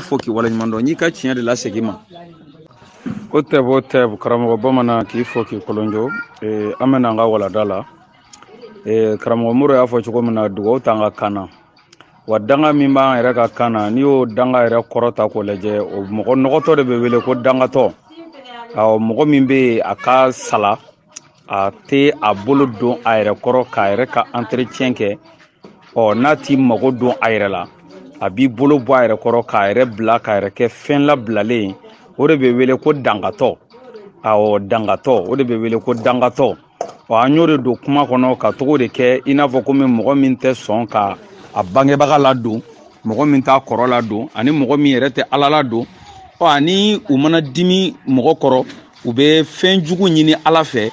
fo k'i waleɲuman dɔn n'i ka tiɲɛ de lasegin i ma o tɛbo o tɛbo karamɔgɔ bamanan k'i fo k'i kolonjo eh, an bɛ na an ka walanda la eh, karamɔgɔ moro y'a fɔ cogo min na dugawu t'an ka kan na wa danga min b'an yɛrɛ ka kan na n'i y'o danga yɛrɛ kɔrɔ ta k'o lajɛ o mɔgɔ nɔgɔtɔ de bɛ wele ko dangatɔ awɔ mɔgɔ min bɛ yen a ka sala a tɛ a bolo don a yɛrɛ kɔrɔ k'a yɛrɛ ka entretien kɛ ɔ n'a t'i mago don a yɛrɛ la a b'i bolo bɔ a yɛrɛ kɔrɔ k'a yɛrɛ bila k'a yɛrɛ kɛ fɛn labilalen ye o de bɛ wele ko dangatɔ awɔ dangatɔ o de bɛ wele ko dangatɔ ɔ an y'o de don kuma kɔnɔ k'a tɔgɔ de kɛ i n'a fɔ komi mɔgɔ min tɛ sɔn ka a bangebaga ladon mɔgɔ min t'a kɔrɔ ladon ani mɔgɔ min yɛrɛ tɛ ala ladon ɔ ani u mana dimi mɔgɔ kɔrɔ u bɛ fɛn jugu ɲini ala fɛ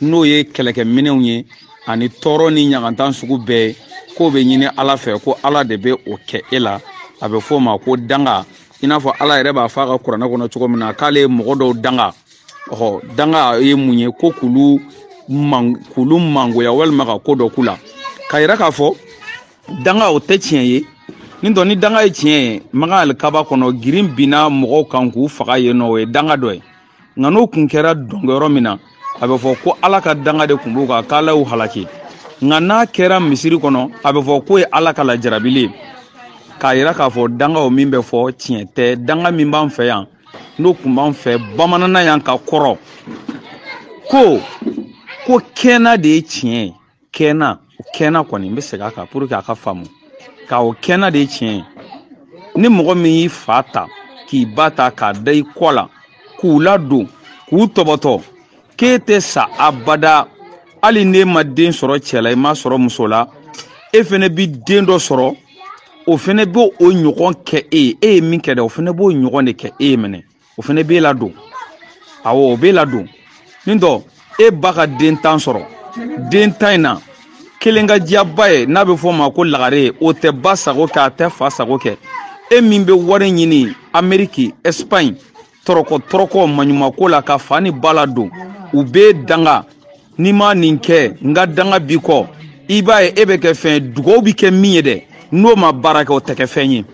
n'o ye kɛlɛkɛminɛw ye ani tɔɔrɔ ni ɲagantan sugu bɛɛ k'o bɛ ɲini ala fɛ ko ala de bɛ o kɛ e la a bɛ fɔ o ma ko danga i n'a fɔ ala yɛrɛ b'a fɔ a ka kuranɛ kɔnɔ cogo min na k'ale ye mɔgɔ dɔw danga ɔhɔ danga ye mun ye ko k'olu man k'olu mangoya walima ka ko dɔ k'u la k'a yira k'a fɔ danga o tɛ tiɲɛ ye ni tɔ ni danga ye tiɲɛ ye makan alikaba kɔnɔ girin binna mɔgɔw kan k'u faga yen nɔ o ye danga dɔ ye nka n'o kun kɛra dɔnkɛyɔrɔ min na a bɛ fɔ ko ala ka danga de kun b'u kan k'ala y'u halaki nka n'a kɛra misiri kɔnɔ a bɛ fɔ k'o ye ala ka lajarabili ye k'a yira k'a fɔ danga o min bɛ fɔ tiɲɛ tɛ danga min b'an fɛ yan n'o kun b'an fɛ bamanana yan ka kɔrɔ ko ko kɛna de ye tiɲɛ ye kɛna kɛna kɔni n bɛ segin a kan pour que a ka faamu ka o kɛna de ye tiɲɛ ye ni mɔgɔ min y'i fa ta k'i ba ta k'a da i kɔ la k'u ladon k'u tɔbɔtɔ k'e tɛ sa abada hali n'e ma den sɔrɔ cɛ la i m'a sɔrɔ muso la e fɛnɛ bi den dɔ sɔrɔ o fɛnɛ b'o ɲɔgɔn kɛ e ye e ye min kɛ dɛ o fɛnɛ b'o ɲɔgɔn de kɛ e ye minɛ o fɛnɛ b'e ladon awɔ o b'e ladon ni tɔ e ba ka den tan sɔrɔ den tan in na kelen ka di a ba ye n'a bɛ fɔ o ma ko lagare o tɛ ba sago kɛ a tɛ fa sago kɛ e min bɛ wari ɲini ameriki espagne tɔrɔkɔ tɔrɔkɔ maɲumako la ka fa ni ba ladon u b'e danga n'i ma nin kɛ n ka danga b'i kɔ i b'a ye e bɛ kɛ fɛn dugawu bɛ kɛ min ye dɛ n'o ma baara kɛ o tɛ kɛ fɛn ye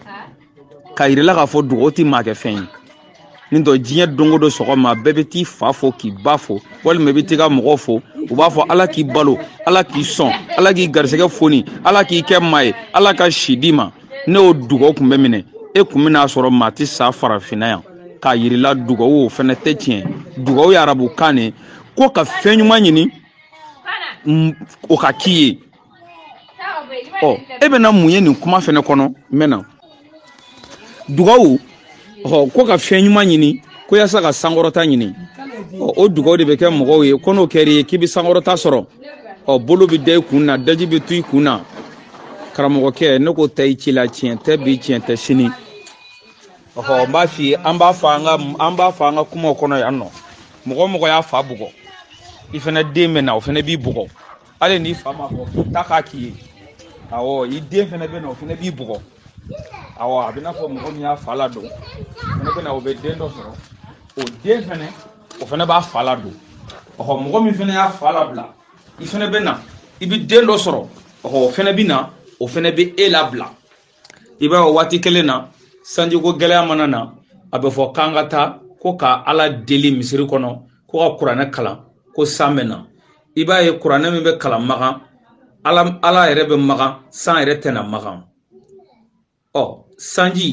k'a yirila k'a fɔ dugawu tɛ maa kɛ fɛn ye ni tɔ diɲɛ don o don sɔgɔma bɛɛ bɛ t'i fa fo k'i ba fo walima i bɛ t'i ka mɔgɔw fo u b'a fɔ ala k'i balo ala k'i sɔn ala k'i garisɛgɛ foni ala k'i kɛ maa ye ala ka si d'i ma ni o dugawu kun bɛ minɛ e kun bɛn'a sɔrɔ maa tɛ sa farafinna yan k'a yirila dugawu o fɛnɛ tɛ tiɲɛ dugawu ye arabukan de ye ko ka fɛn ɲuman ɲini o ka k'i ye ɔ e bɛna mun ye nin kuma fɛnɛ kɔnɔ n bɛ na dugawu ɔ ko ka fɛn ɲuman ɲini ko yasa ka sankɔrɔta ɲini ɔ o dugawu de bɛ kɛ mɔgɔw ye ko n'o kɛr'i ye k'i bɛ sankɔrɔta sɔrɔ ɔ bolo bɛ da i kun na daji bɛ to i kun na karamɔgɔkɛ ne ko ta i ci la tiɲɛ tɛ bi tiɲɛ tɛ sini ɔhɔ n b'a f'i ye an b'a fɔ an ka an b'a fɔ an ka kumaw kɔnɔ yan nɔ mɔgɔ mɔgɔ y'a fa bugɔ i fɛnɛ den bɛ na o fɛnɛ b'i bugɔ hali n'i fa ma fɔ k'i ta k'a k'i ye awɔ i den fɛnɛ bɛ na o fɛnɛ b'i bugɔ awɔ a bɛna fɔ mɔgɔ min y'a fa ladon fɛnɛ bɛ na o bɛ den dɔ sɔrɔ o den fɛnɛ o fɛnɛ b'a fa ladon ɔhɔ mɔgɔ min fɛnɛ y'a fa labila i fɛnɛ bɛ na i bɛ den dɔ sɔrɔ ɔhɔ o fɛnɛ bɛ na o fɛnɛ bɛ e labila i b'a ye waati kelen na sanjiko gɛlɛya mana na a bɛ fɔ k'an ka taa ko ka ala deli misiri kɔnɔ ko ka kuranɛ kalan ko san bɛ na i b'a ye kuranɛ min bɛ kalan makan ala yɛrɛ bɛ makan san yɛrɛ tɛna makan ɔ sanji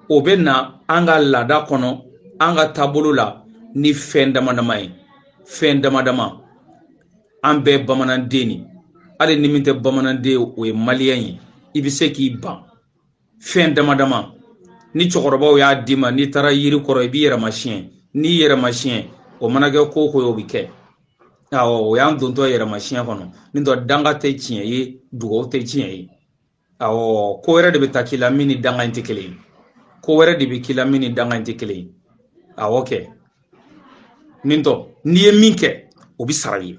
o bɛ na an ka laada kɔnɔ an ka taabolo la ni fɛn dama dama ye fɛn dama dama an bɛɛ bamananden ni hali ni min tɛ bamananden o ye maliyɛn ye i bɛ se k'i ban fɛn dama dama ni cɛkɔrɔbaw y'a d'i ma n'i taara yiri kɔrɔ i b'i yɛrɛ masiyɛn n'i yɛrɛ masiyɛn o mana kɛ ko o ko ye o bɛ kɛ awɔ o y'an dontɔ yɛrɛ masiyɛn kɔnɔ ni tɔ danga tɛ tiɲɛ ye dugawu tɛ tiɲɛ ye awɔ ko wɛrɛ de bɛ taa k'i la min ni danga in tɛ kelen ye ko wɛrɛ de bɛ k'i la min ni danga in tɛ kelen ye awɔ kɛ nin tɔ n'i ye min kɛ o bɛ sara i ye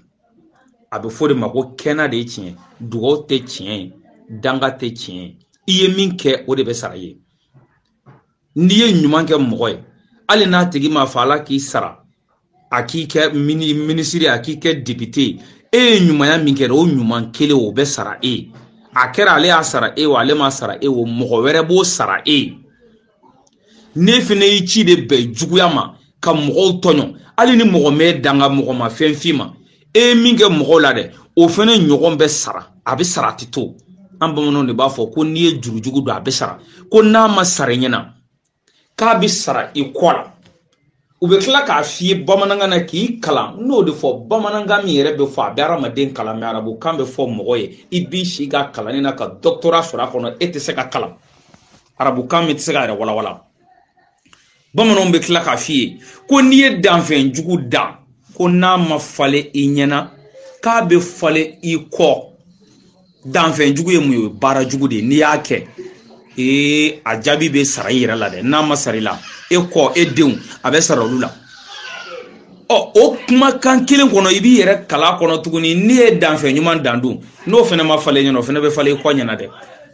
a bɛ fɔ de ma ko kɛnɛ de ye tiɲɛ dugaw tɛ tiɲɛ ye danga tɛ tiɲɛ ye i ye min kɛ o de bɛ sara i ye n'i ye ɲuman kɛ mɔgɔ ye hali n'a tigi ma fɔ ala k'i sara a k'i kɛ minisiri a k'i kɛ depite e ye ɲumanya min kɛ o ɲuman kelen o bɛ sara e ye a kɛra ale y'a sara e wa ale ma sara e wo mɔgɔ wɛrɛ b'o sara e ye n'e fɛnɛ y'i ci de bɛn juguya ma ka mɔgɔw tɔɲɔ hali ni mɔgɔ m'e danga mɔgɔ ma fɛn f'i ma e ye min kɛ mɔgɔw la dɛ o fɛnɛ ɲɔgɔn bɛ sara a bɛ sara a tɛ to an bamananw de b'a fɔ ko n'i ye jurujugu don a bɛ sara ko n'a ma sara i ɲɛna k'a bɛ sara i kɔ la u bɛ tila k'a f'i ye bamanankan na k'i kalan n'o de fɔ bamanankan min yɛrɛ bɛ fɔ a bɛ hadamaden kalan mɛ arabukan bɛ fɔ mɔgɔ ye i b'i si kɛ kalanni na ka dɔktora sɔrɔ a kɔnɔ e tɛ se ka kalan arabukan min tɛ se k'a yɛrɛ walawala bamananw bɛ tila k'a f'i ye ko n'i ye danfɛn jugu dan ko n'a ma falen i ɲɛna k'a bɛ falen i kɔ danfɛn jugu ye mun ye baara jugu de n'i y'a kɛ ee a jaabi bɛ sara i yɛrɛ la dɛ n'a ma sara i la e kɔ e denw a bɛ sara olu la ɔ o kumakan kelen kɔnɔ i b'i yɛrɛ kala kɔnɔ tuguni n'i ye danfɛn ɲuman dan dun n'o fana ma falen ɲɛna o fana bɛ falen i kɔ ɲɛna dɛ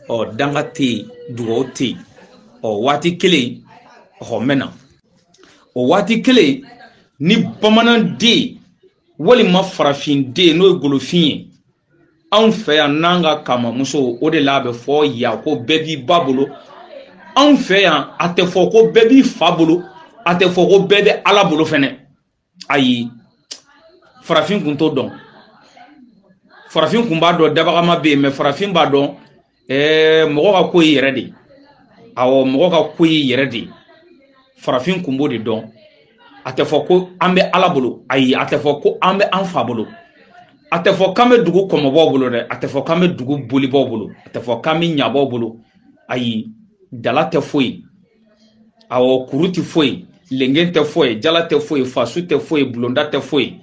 ɔ danga tɛ yen dugawu tɛ yen ɔ waati kelen ɔ mɛna o waati kelen ni bamananden walima farafin den n'o ye golofin ye anw fɛ yan n'an ka kamamuso o de la a bɛ fɔ yan ko bɛɛ b'i ba bolo anw fɛ yan a tɛ fɔ ko bɛɛ b'i fa bolo a tɛ fɔ ko bɛɛ bɛ ala bolo fɛnɛ ayi farafin kun t'o dɔn farafin kun b'a dɔn dabagama bɛ yen mɛ farafin b'a dɔn ɛɛ mɔgɔ ka ko y'i yɛrɛ de ye awɔ mɔgɔ ka ko y'i yɛrɛ de ye farafin kun b'o de dɔn a tɛ fɔ ko an bɛ ala bolo ayi a tɛ fɔ ko an bɛ an fa bolo a tɛ fɔ k'an bɛ dugu kɔmɔbaw bolo dɛ a tɛ fɔ k'an bɛ dugu bolibaw bolo a tɛ fɔ k'an bɛ ɲabaw bolo ayi dala tɛ foyi awɔ kuru tɛ foyi lengen tɛ foyi jala tɛ foyi fasu tɛ foyi bulonda tɛ foyi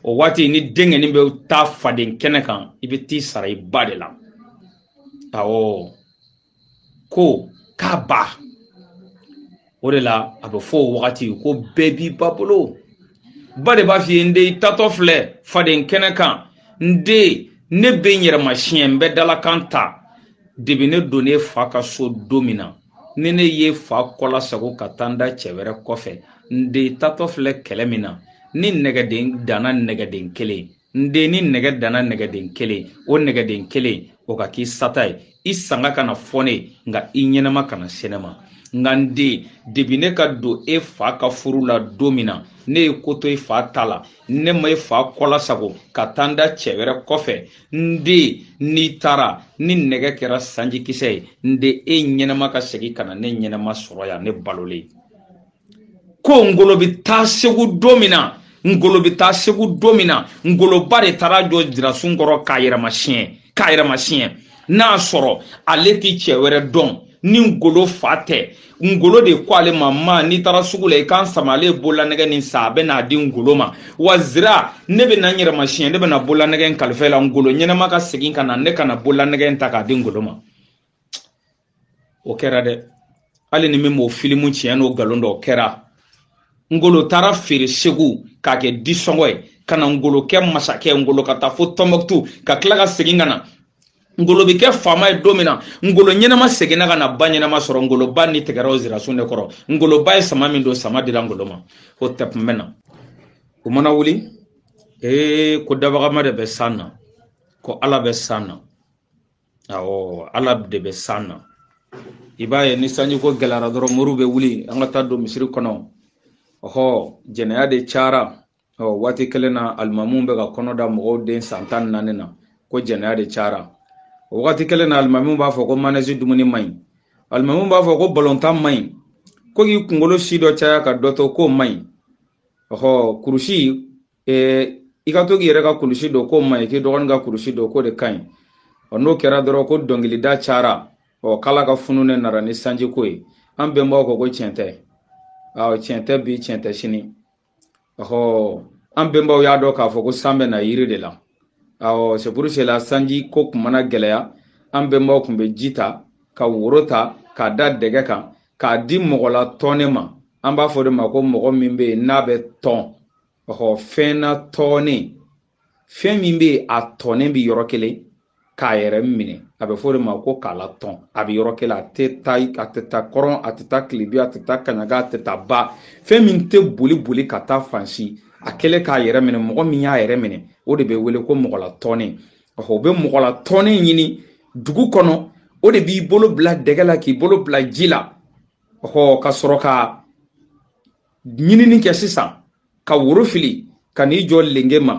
o waati ni denkɛnin bɛ taa faden kɛnɛ kan i bɛ t'i sara i ba de la awɔ ko k'a ba o de la a bɛ fɔ o wagati ko bɛɛ b'i ba bolo ba de b'a f'i ye n den i taatɔ filɛ faden kɛnɛ kan n den ne bɛ n yɛrɛ masiɲɛ n bɛ dalakan ta debi ne donn'e fa ka so don min na ni ne y'e fa kɔla sago ka taa n da cɛ wɛrɛ kɔfɛ n den taatɔ filɛ kɛlɛ min na ni nɛgɛden danna nɛgɛden kelen n den ni nɛgɛ danna nɛgɛden kelen o nɛgɛden kelen o ka k'i sata ye i sanga ka na fɔ n ye nka i ɲɛnama kana se ne ma nka n den debi ne ka don e fa ka furu la don min na ne ye ko to i fa ta la ne ma i fa kɔla sago ka taa n da cɛ wɛrɛ kɔfɛ n den n'i taara ni nɛgɛ kɛra sanjikisɛ ye n den e ɲɛnama ka segin ka na ne ɲɛnama sɔrɔ yan ne balolen ko ngolo bɛ taa segu don min na ngolo bɛ taa segu don min na ngolo ba de taara jɔ zirasun kɔrɔ k'a yɛrɛ masiɲɛ n'a sɔrɔ ale tɛ cɛ wɛrɛ dɔn ni ngolo fa tɛ ngolo de ko ale ma ma n'i taara sugu la i ka n sama ale ye bololanɛgɛ nin san a bɛ n'a di ngolo ma wa zira ne bɛ na n yɛrɛ masiɲɛ ne bɛ na bololanɛgɛ in kalifa la ngolo ɲɛnama ka segin ka na ne ka na bololanɛgɛ in ta k'a di ngolo ma o kɛra dɛ hali ni min b'o filimu tiɲɛ n'o nkalon dɔn o kɛra ngolo taara feere segu k'a kɛ disɔngɔ ye ka na ngolo kɛ masakɛ ngolo ka taa fo tɔnbɔkutu ka tila ka segin ka na ngolo bɛ kɛ faama ye don min na ngolo ɲɛnama seginna ka na ba ɲɛnama sɔrɔ ngolo ba ni tigɛra o zirasun de kɔrɔ ngolo ba ye sama min don sama dira ngolo ma o tɛpun bɛ na o mana wuli ee ko dabagama de bɛ san na ko ala bɛ san na awɔ ala de bɛ san na i b'a ye ni sanji ko gɛlɛyara dɔrɔn moriw bɛ wuli an ka taa don misiri kɔnɔ ɔhɔ jɛnɛya de cayara o waati kelen na alimamu bɛ ka kɔnɔ da mɔgɔw den san tan naani na ko jɛnɛya de cayara o waati kelen na alimamu b'a fɔ ko manɛzi dumuni man ɲi alimamu b'a fɔ ko balontan man ɲi ko k'i kunkolo si dɔ caya ka dɔ to k'o man ɲi ɔhɔ kurusi eh, i ka to k'i yɛrɛ ka kulusi don k'o man ɲi k'i dɔgɔnin ka kulusi don k'o de ka ɲi ɔ n'o kɛra dɔrɔn ko dɔnkilida cayara ɔ k'ala ka funu ne nara ni sanjiko ye an bɛnbaw ko ko tiɲɛ tɛ tiɲɛ tɛ bi tiɲɛ tɛ sini ɔhɔ an bɛnbaw y'a dɔn k'a fɔ ko san bɛ na yiri de la awɔ c'est pour cela sanji ko kun mana gɛlɛya an bɛnbaw kun bɛ ji ta ka woro ta k'a da dɛgɛ kan k'a di mɔgɔ latɔnnen ma an b'a fɔ de ma ko mɔgɔ min bɛ yen n'a bɛ tɔn ɔhɔ fɛn natɔnnen fɛn min bɛ yen a tɔnnen bɛ yɔrɔ kelen k'a yɛrɛ minɛ a bɛ fɔ o de ma ko k'a latɔn a bɛ yɔrɔ kelen a tɛ taa a tɛ taa kɔrɔn a tɛ taa tilebi a tɛ taa kaɲaga a tɛ taa ba fɛn min tɛ boli boli ka taa fan si a kɛlen k'a yɛrɛ minɛ mɔgɔ min y'a yɛrɛ minɛ o de bɛ wele ko mɔgɔ latɔnnen o bɛ mɔgɔ latɔnnen ɲini dugu kɔnɔ o de b'i bolo bila dɛgɛ la k'i bolo bila ji la ɔ ka sɔrɔ ka ɲinini kɛ sisan ka woro fili ka n'i jɔ lenge ma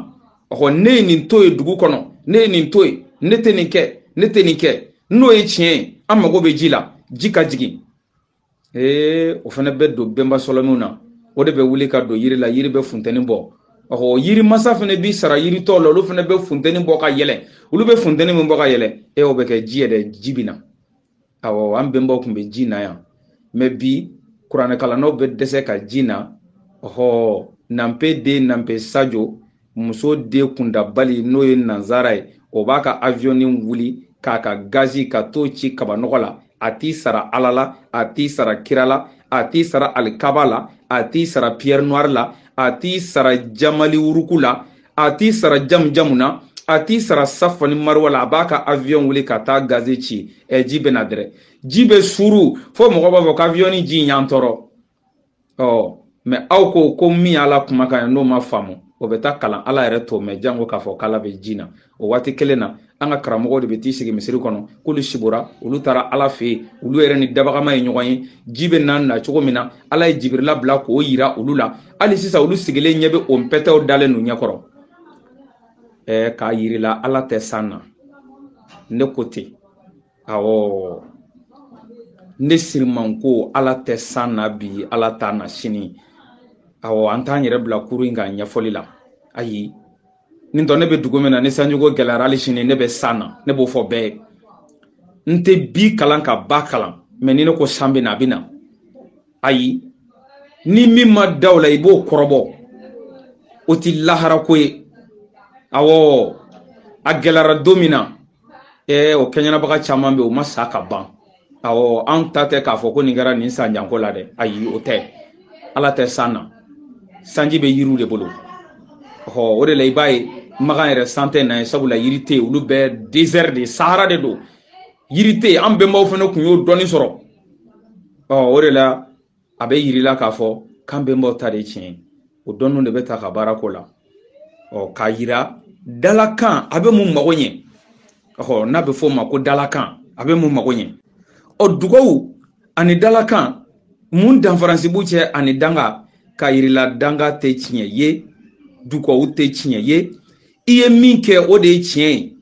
ɔhɔ ne ye nin to ye dugu kɔnɔ ne ye nin to ye ne tɛ nin kɛ ne tɛ nin kɛ n'o ye tiɲɛ ye an mago bɛ ji la ji ka jigin ee o fana bɛ don bɛnba sɔlɔmiw na o de bɛ wuli ka don yiri la yiri bɛ funteni bɔ ɔhɔ yiri masa fana b'i sara yiri tɔw la olu fana bɛ funteni bɔ ka yɛlɛ olu bɛ funteni min bɔ ka yɛlɛ e o bɛ kɛ ji ye ɛ ji bɛ na awɔ an bɛnbaw tun bɛ ji na yan mɛ bi kuranɛkalannaw bɛ dɛsɛ ka ji na ɔhɔ nanpe den nanpe sajo muso den kundabali n'o ye nanzara ye o b'a ka aviyɔni wuli k'a ka gazi ka t'o ci kabanɔgɔ la a t'i sara ala la a t'i sara kira la a t'i sara alikaba la a t'i sara pierre noire la a t'i sara jamali wuruku la a t'i sara jamujamu na a t'i sara safa ni mariwa la a b'a ka avion wuli ka taa gazi ci ɛ ji bɛ na dɛrɛ ji bɛ suru fo mɔgɔ b'a fɔ ko aviyɔni ji y'an tɔɔrɔ ɔ mɛ aw ko ko min y'ala kumakan ye n'o ma faamu o bɛ taa kalan ala yɛrɛ t'o mɛn janko k'a fɔ k'ala bɛ ji na o waati kelen na an ka karamɔgɔw de bɛ t'i sigi misiri kɔnɔ k'olu sibora olu taara ala fɛ yen olu yɛrɛ ni dabagama ye ɲɔgɔn ye ji bɛ na na cogo min na ala ye jibirila bila k'o yira olu la hali sisan olu sigilen ɲɛ bɛ o pɛtɛw dalen n'u ɲɛkɔrɔ ɛɛ k'a yirila ala tɛ san na ne ko ten awɔ ne siriman ko ala tɛ san na bi ala t'a na sini awɔ an t'an yɛrɛ bila kuru in ka ɲɛfɔli la ayi ni tɔ ne bɛ dugu min na ni sanjiko gɛlɛyara hali sini ne bɛ san na ne b'o fɔ bɛɛ ye n tɛ bi kalan ka ba kalan mais ni ne ko san bɛ na a bɛ na ayi ni min ma da o la i b'o kɔrɔbɔ o tɛ laharako ye awɔ a gɛlɛyara don min na ee o kɛɲɛnabaga caman bɛ yen u ma sa ka ban awɔ an ta tɛ k'a fɔ ko nin kɛra nin san janko la dɛ ayi o tɛ ala tɛ san na sanji bɛ yiriw de bolo ɔ o de la i b'a ye makan yɛrɛ san tɛ na yen sabula yiri tɛ yen olu bɛɛ désert de sahara de don yiri tɛ yen an bɛnbaw fana kun y'o dɔnni sɔrɔ ɔ o de la a bɛ yirila k'a fɔ k'an bɛnbaw ta de ye tiɲɛ ye o dɔnni de bɛ ta ka baara ko la ɔ k'a yira dalakan a bɛ mun mago ɲɛ ɔ n'a bɛ fɔ o ma ko dalakan a bɛ mun mago ɲɛ ɔ dugawu ani dalakan mun danfaransi b'u cɛ ani danga ka yirila danga tɛ tiɲɛ ye dugawu tɛ tiɲɛ ye i ye min kɛ o de ye tiɲɛ ye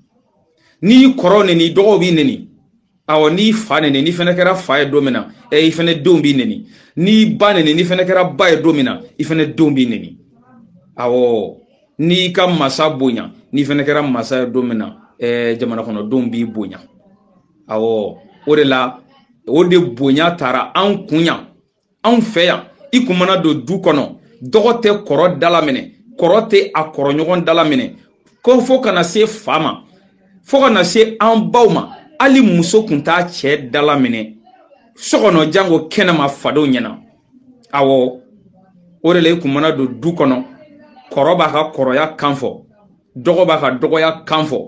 n'i y'i kɔrɔ neni dɔgɔw b'i neni awɔ n'i fa neni n'i fana kɛra fa ye don min na ɛ i fana denw b'i neni n'i ba neni n'i fana kɛra ba ye don min na i fana denw b'i neni awɔ n'i ka masa bonya n'i fana kɛra masa ye don min na ɛ jamana kɔnɔdenw b'i bonya awɔ o de la o de bonya taara an kun yan anw fɛ yan i kun mana don du kɔnɔ dɔgɔ tɛ kɔrɔ dalaminɛ kɔrɔ tɛ a kɔrɔɲɔgɔn dalaminɛ ko fo kana se fa ma fo kana se an baw ma hali muso kun t'a cɛ dalaminɛ so kɔnɔ janko kɛnɛma fadenw ɲɛna awɔ o de la i kun mana don du kɔnɔ kɔrɔ b'a ka kɔrɔya kan fɔ dɔgɔ b'a ka dɔgɔya kan fɔ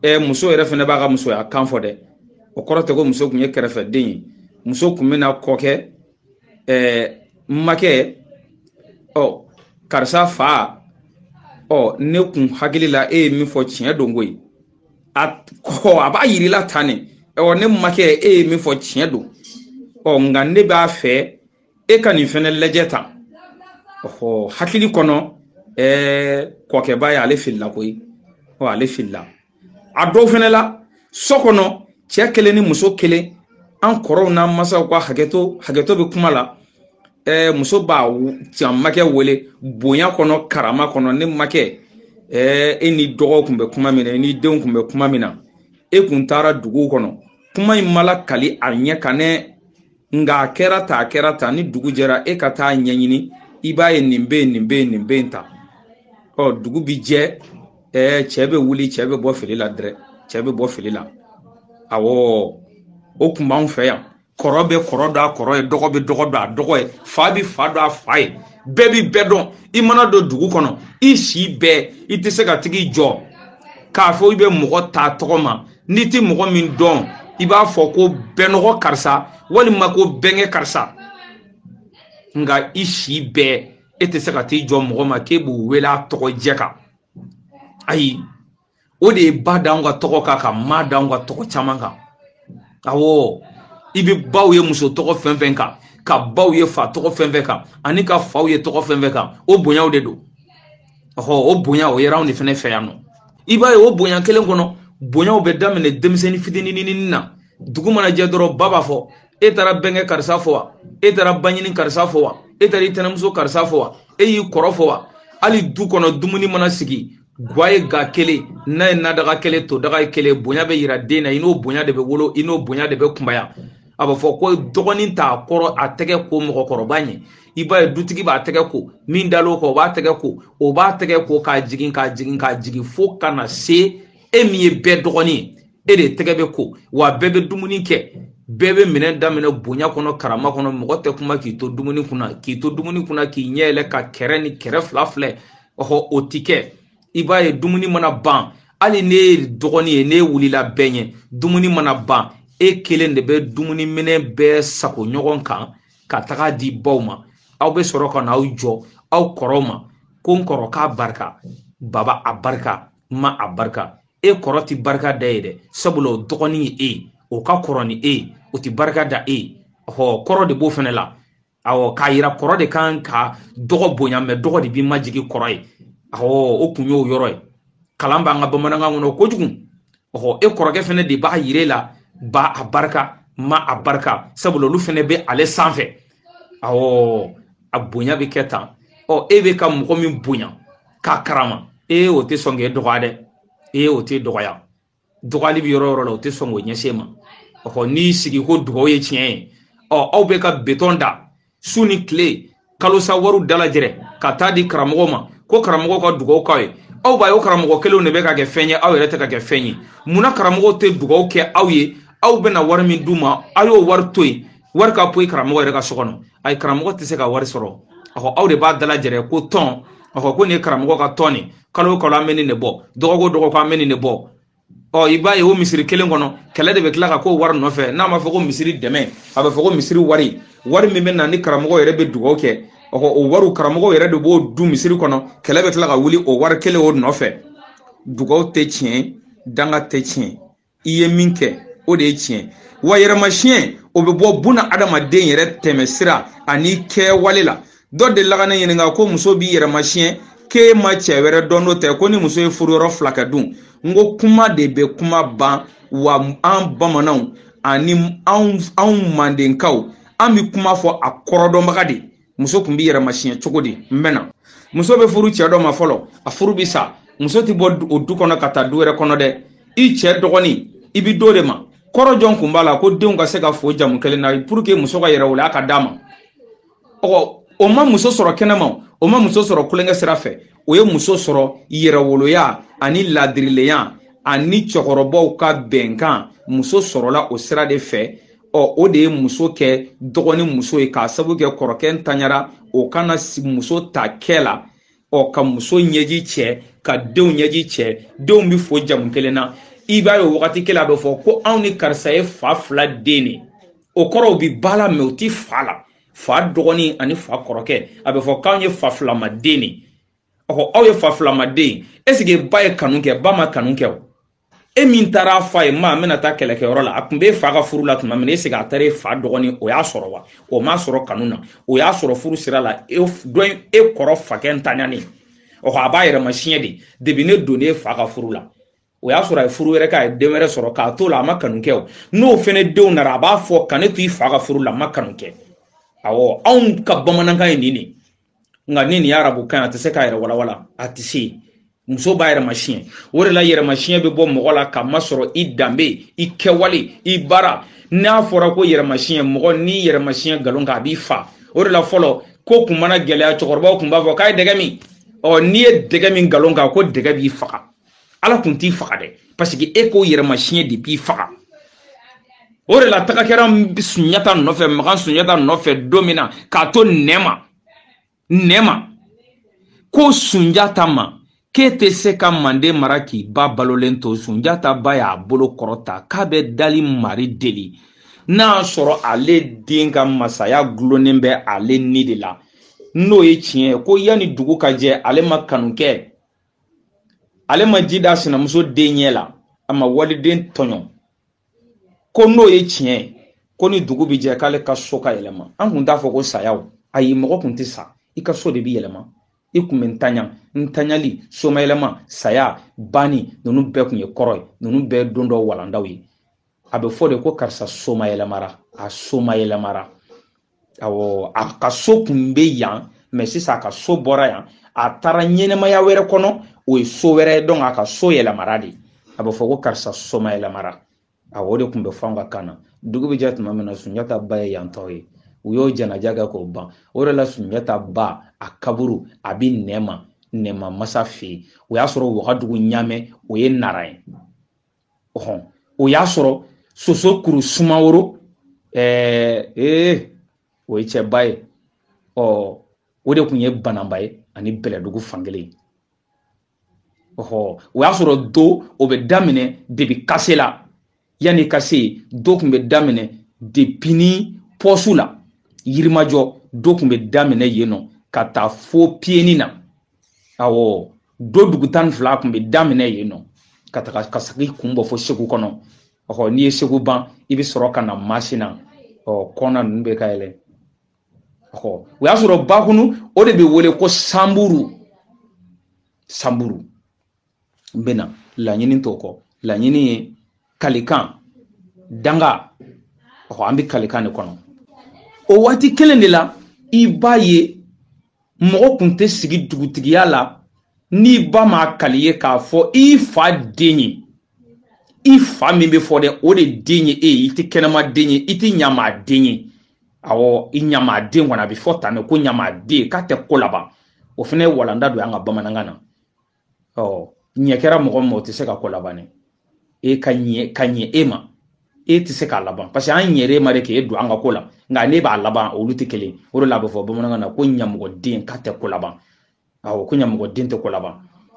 ɛ muso yɛrɛ fana b'a ka musoya kan fɔ dɛ o kɔrɔ tɛ ko muso kun ye kɛrɛfɛden ye muso kun bɛ na kɔkɛ ɛɛ n makɛ ɔ karisa fa ɔ ne kun hakili la e ye min fɔ tiɲɛ don koyi a kɔ a b'a yirila tan ne ɔ ne makɛ e ye min fɔ tiɲɛ don ɔ nka ne b'a fɛ e ka nin fɛnɛ lajɛ tan ɔhɔ hakili kɔnɔ ɛɛ kɔrɔkɛ b'a ye ale filila koyi ɔ ale filila a dɔw fɛnɛ la so kɔnɔ cɛɛ kelen ni muso kelen an kɔrɔw n'an masaw ka hakɛto hakɛto bɛ kuma la ɛɛ muso b'a ta makɛ wele bonya kɔnɔ karama kɔnɔ ne makɛ ɛɛ e ni dɔgɔw kun bɛ kuma min na e ni denw kun bɛ kuma min na e kun taara dugu kɔnɔ kuma in ma lakali a ɲɛ kan dɛ nka a kɛra tan a kɛra tan ni dugu jɛra e ka taa ɲɛɲini i b'a ye nin bɛ nin bɛ nin bɛ ta ɔ dugu bi jɛ ɛɛ cɛ bɛ wuli cɛ bɛ bɔ fili la dɛrɛ cɛ bɛ bɔ fili la awɔ o kun b'anw fɛ yan kɔrɔ bɛ kɔrɔ dɔn a kɔrɔ ye dɔgɔ bɛ dɔgɔ dɔn a dɔgɔ ye fa bɛ fa dɔn a fa ye bɛɛ bi bɛɛ dɔn i mana don dugu kɔnɔ i si bɛɛ i tɛ se ka tag'i jɔ k'a fɔ i bɛ mɔgɔ ta tɔgɔ ma n'i tɛ mɔgɔ min dɔn i b'a fɔ ko bɛnɔgɔ karisa walima ko bɛnkɛ karisa nka i si bɛɛ e tɛ se ka t'i jɔ mɔgɔ ma k'e b'o wele a tɔgɔ jɛ kan ayi o de ye ba d'anw ka tɔgɔ kan ka ma d'anw ka tɔgɔ caman kan awɔ i bɛ baw ye muso tɔgɔ fɛn fɛn kan ka baw ye fa tɔgɔ fɛn fɛn kan ani ka faw ye tɔgɔ fɛn fɛn kan o bonyaw de don ɔhɔ o bonya o yɛrɛ anw de fɛnɛ fɛ yan nɔ i b'a ye o bonya kelen kɔnɔ bonyaw bɛ daminɛ denmisɛnnin fitinininin na dugu mana jɛ dɔrɔn ba b'a fɔ e taara bɛnkɛ karisa fo wa e taara baɲini karisa fo wa e taara i tɛnɛmuso karisa fo wa e y'i kɔrɔ fo wa hali du kɔnɔ dumuni mana sigi gwa ye gwa kelen na ye nadaga kelen todaga ye kelen bonya bɛ yira den na i n'o bonya de bɛ wolo i n'o bonya de bɛ kunbaya a bɛ fɔ ko dɔgɔnin t'a kɔrɔ a tɛgɛ ko mɔgɔkɔrɔba ɲɛ i b'a ye dutigi b'a tɛgɛ ko min dal'o kan o b'a tɛgɛ ko o b'a tɛgɛ ko k'a jigin k'a jigin k'a jigin fo ka na se e min ye bɛɛ dɔgɔnin ye e de tɛgɛ bɛ ko wa bɛɛ bɛ dumuni kɛ bɛɛ bɛ minɛn da minɛ bonya kɔnɔ karama kɔnɔ mɔgɔ tɛ kuma k'i to dumuni kunna k'i to dumuni kunna k'i ɲɛ yɛlɛ ka kɛrɛ ni kɛrɛ fila filɛ ɔhɔ o ti kɛ i b'a ye dumuni mana ban hali n'e ye dɔgɔnin ye n'e wulila bɛɛ ɲɛ dumuni mana ban e kelen de bɛ dumuni minɛn bɛɛ sago ɲɔgɔn kan ka tag'a di baw ma aw bɛ sɔrɔ ka na aw jɔ aw kɔrɔw ma ko n kɔrɔkɛ a barika baba a barika ma a barika e kɔrɔ ti barika d'e ye dɛ sabula o dɔgɔnin ye e ye o ka kɔrɔ ni e ye o ti barika da e ye ɔ kɔrɔ de b'o fɛnɛ la awɔ k'a yira kɔrɔ de kan ka dɔgɔ bonya mɛ dɔgɔ de b'i majigin kɔrɔ ye awɔ o kun y'o yɔrɔ ye kalan b'an ka bamanankan kɔnɔ kojugu ɔhɔ e kɔrɔkɛ fɛnɛ de b'a yir'e la ba a barika ma a barika sabula olu fɛnɛ bɛ ale sanfɛ awɔ a bonya bɛ kɛ tan ɔ e bɛ ka mɔgɔ min bonya k'a karama e o tɛ sɔn k'e dɔgɔya dɛ e o t'e dɔgɔya dɔgɔyali bɛ yɔrɔ o yɔrɔ la u tɛ sɔn k'o ɲɛsin e ma ɔ n'i sigi ko dugawu ye tiɲɛ ye ɔ aw bɛ ka betɔn da su ni tile kalosa wariw dalajɛrɛ ka taa di karamɔgɔw ma ko karamɔgɔw ka dugawu k'aw ye aw b'a ye o karamɔgɔ kelenw de bɛ ka kɛ fɛn ye aw yɛrɛ tɛ ka kɛ fɛn ye munna karamɔgɔw tɛ dugawu kɛ aw ye aw bɛna wari min d'u ma aw y'o wari to yen wari ka poyi karamɔgɔ yɛrɛ ka so kɔnɔ ayi karamɔgɔ tɛ se ka wari sɔrɔ a ko aw de b'a dalajɛrɛ ko tɔn a ko ko nin ye karamɔgɔ ka tɔn nin kalo o kalo an bɛ nin de bɔ dɔgɔkun o dɔgɔkun an bɛ nin de bɔ ɔ i b'a ye o misiri kelen kɔnɔ kɛlɛ de bɛ tila ka k'o wari nɔfɛ n'a ma fɔ ko misiri dɛmɛ a bɛ fɔ ko misiri wari wari min bɛ na ni karamɔgɔ yɛrɛ bɛ dugawu kɛ ɔ o wariw karamɔgɔ yɛrɛ de b'o dun misiri kɔnɔ kɛlɛ bɛ tila ka wuli o wari kelen o nɔfɛ dugawu tɛ tiɲɛ danga tɛ tiɲɛ i ye min kɛ o de ye tiɲɛ wa yɛrɛmasiɲɛ o bɛ bɔ buna adamaden yɛrɛ tɛmɛ sira ani kɛwale la dɔ dela ka ne ɲininka ko muso b'i yɛrɛ masiɲɛ k'e ma cɛ wɛrɛ dɔn n'o tɛ ko ni muso ye furuyɔrɔ fila kɛ dun n ko kuma de bɛ kuma ban wa an bamananw ani anw mandenkaw an bɛ kuma fɔ a kɔrɔdɔnbaga de muso tun bɛ yɛrɛ masiɲɛ cogo di n bɛna muso bɛ furu cɛ dɔ ma fɔlɔ a furu bɛ sa muso tɛ bɔ o du kɔnɔ ka taa du wɛrɛ kɔnɔ dɛ i cɛ dɔgɔnin i bɛ d'o de ma kɔrɔ jɔn kun b'a la ko denw ka se ka fo jamu kelen na pour que muso ka yɛrɛwoloya ka d'a ma ɔ o ma muso sɔrɔ kɛnɛma o ma muso sɔrɔ kulonkɛ sira fɛ o ye muso sɔrɔ yɛrɛwoloya ani laadirilenya ani cɛkɔrɔbaw ka bɛnkan muso sɔrɔla o sira de fɛ ɔ o de ye muso kɛ dɔgɔnin muso ye k'a sabu kɛ kɔrɔkɛ ntanyara o kana muso ta kɛ la ɔ ka muso ɲɛji cɛ ka denw ɲɛji cɛ denw bɛ fo jamu kelen na i b'a ye o wagati kelen a bɛ fɔ ko anw ni karisa ye fa fila den de o kɔrɔ u bɛ ba la mais u ti fa la fa dɔgɔnin ani fa kɔrɔkɛ a bɛ fɔ k'anw ye fa filama den de ɔ aw ye fa filama den est-ce que ba ye kanu kɛ ba ma kanu kɛ o e min taara a fɔ a ye ma n bɛna taa kɛlɛkɛyɔrɔ la a tun bɛ fa ka furu la tuma min est-ce que a taara e fa dɔgɔnin o y'a sɔrɔ wa o m'a sɔrɔ kanu na o y'a sɔrɔ furu sira la e dɔ in e kɔrɔ fakɛ ntanyani ɔ a b'a yɛrɛ masiɲɛ de depuis ne donnen e fa ka furu la o y'a sɔrɔ a ye furu wɛrɛ kɛ a ye den wɛrɛ sɔrɔ k'a to la a ma kanu kɛ o n'o fɛnɛ denw nana a b'a fɔ ka ne to i fa ka furu la a ma kanu kɛ awɔ anw ka bamanankan ye nin de ye nka ni nin ye arabukan a tɛ se k'a yɛrɛ walawala a tɛ se muso b'a yɛrɛ masiɲɛ o de la yɛrɛmasiɲɛ bɛ bɔ mɔgɔ la k'a masɔrɔ i danbe i kɛwale i baara n'a fɔra ko yɛrɛmasiɲɛ mɔgɔ n'i yɛrɛ masiɲɛ nkalon kan a b'i fa o de la fɔlɔ ko kun mana gɛlɛya cɛkɔrɔbaw kun b'a fɔ k'a ye dɛgɛ min ɔ n'i ye dɛgɛ min nkalon kan ko dɛgɛ b'i faga ala kun t'i faga dɛ parce que e k'o yɛrɛma siɲɛ de b'i faga o de la taga kɛra sunjata nɔfɛ makan sunjata nɔfɛ don min na k'a to nɛma nɛma ko sunjata ma k'e tɛ se ka manden mara k'i ba balolen to sunjata ba y'a bolo kɔrɔta k'a bɛ dali mari deli n'a sɔrɔ ale den ka masaya gulonnen bɛ ale ni de la n'o ye tiɲɛ ye ko yanni dugu ka jɛ ale ma kanu kɛ ale ma ji da sinamuso den ɲɛ la a ma waliden tɔɲɔ ko n'o ye tiɲɛ ye ko ni dugu bɛ jɛ k'ale ka so ka yɛlɛma an kun t'a fɔ ko sayaw ayi mɔgɔ kun tɛ sa i ka so de bɛ yɛlɛma i kun bɛ ntanya ntanyali somayɛlɛma saya banni ninnu bɛɛ kun ye kɔrɔ ye ninnu bɛɛ don dɔ walandaw ye a bɛ fɔ de ko karisa soma yɛlɛmara a soma yɛlɛmara awɔ a ka so kun bɛ yan mais sisan a ka so bɔra yan a taara ɲɛnɛmaya wɛrɛ kɔnɔ o ye so wɛrɛ ye donc a ka so yɛlɛmara de a bɛ fɔ ko karisa soma yɛlɛmara awɔ o de kun bɛ fɔ an ka kan na dugu bɛ jɛ tuma min na sunjata ba ye yantɔ ye u y'o janaja kɛ k'o ban o de la sunjata ba a kaburu a bɛ nɛma nɛma masa fɛ yen o y'a sɔrɔ wagadugu ɲamɛ o ye nara ye ɔhɔn o y'a sɔrɔ soso kuru sumaworo ɛɛ ee o ye cɛba ye ɔ o de kun ye bananba ye ani bɛlɛdugu fankelen ɔhɔ o y'a sɔrɔ do o bɛ daminɛ depuis kasela yanni ka se yen do kun bɛ daminɛ depuis ni pɔsu la yirimajɔ do kun bɛ daminɛ yen nɔ ka taa fo piyeni na awɔ do dugu tan ni fila kun bɛ daminɛ yen nɔ ka taga ka sagi kun bɔ fo segu kɔnɔ ɔhɔ n'i ye segu ban i bɛ sɔrɔ ka na masina ɔ kɔna ninnu bɛ ka yɛlɛ ɔhɔ o y'a sɔrɔ bakunu o de bɛ wele ko sanburu sanburu n bɛna laɲini t'o kɔ laɲini ye kalikan danga ɔhɔ an bɛ kalikan de kɔnɔ o waati kelen de la i b'a ye mɔgɔ kun tɛ sigi dugutigiya la n'i ba ma kali ye k'a fɔ i fa den ye i fa min bɛ fɔ dɛ o de den ye e ye i tɛ kɛnɛma den ye i tɛ ɲamaa den ye awɔ i ɲamaa den kɔni a bɛ fɔ tan de ko ɲamaa den k'a tɛ ko laban o fana ye walanda don an ka bamanankan na ɔ ɲɛ kɛra mɔgɔ ma o tɛ se ka ko laban e ka ɲɛ ka ɲɛ e ma e tɛ se k'a laban parce que an ɲɛra e ma de k'e don an ka ko la nka ne b'a laban olu tɛ kelen o de la a bɛ fɔ bamanankan na ko ɲamɔgɔden k'a tɛ ko laban awɔ ko ɲamɔgɔden tɛ ko laban